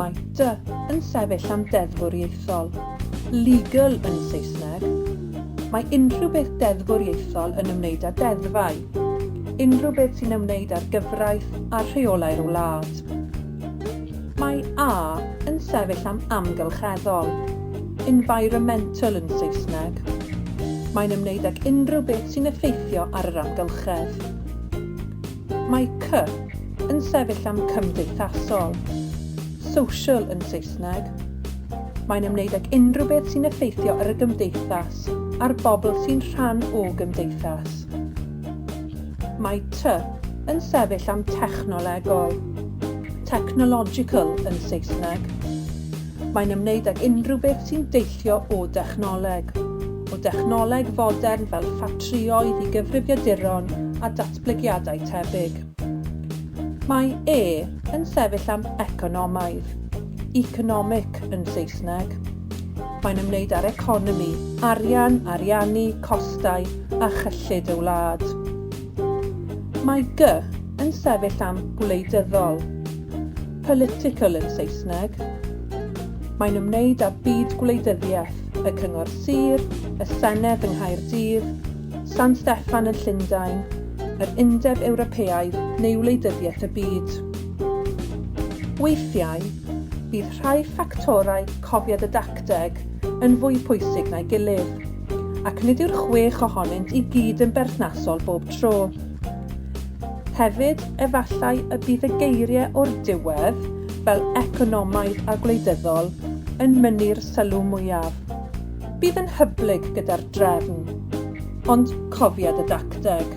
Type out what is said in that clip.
Mitre yn sefyll am deddfwriaethol, legal yn Saesneg. Mae unrhyw beth deddfwriaethol yn ymwneud â deddfau, unrhyw beth sy'n ymwneud â'r gyfraith a rheolau'r wlad. Mae A yn sefyll am amgylcheddol, environmental yn Saesneg. Mae'n ymwneud ag unrhyw beth sy'n effeithio ar yr amgylchedd. Mae cy yn sefyll am cymdeithasol, social yn Saesneg. Mae'n ymwneud ag unrhyw beth sy'n effeithio ar y gymdeithas a'r bobl sy'n rhan o gymdeithas. Mae ty yn sefyll am technolegol, technological yn Saesneg. mae'n ymwneud ag unrhyw beth sy'n deillio o dechnoleg, o dechnoleg fodern fel ffatrïoedd i gyfrifiaduron a datblygiadau tebyg. Mae E yn sefyll am economaidd, economic yn Saesneg. Mae'n ymwneud â'r economi, arian, ariannu, costau a chyllid y wlad. Mae G yn sefyll am gwleidyddol, Political yn Saesneg. Mae'n ymwneud â byd gwleidyddiaeth, y Cyngor Sir, y Senedd yng Nghaerdydd, San Steffan yn Llundain, yr Undeb Ewropeaidd neu Wleidyddiaeth y Byd. Weithiau, bydd rhai ffactorau cofiad y dacteg yn fwy pwysig na'i gilydd, ac nid yw'r chwech ohonynt i gyd yn berthnasol bob tro. Hefyd, efallai y bydd y geiriau o'r diwedd, fel economaidd a gwleidyddol, yn mynnu'r sylw mwyaf. Bydd yn hyblyg gyda'r drefn, ond cofiad y dacteg.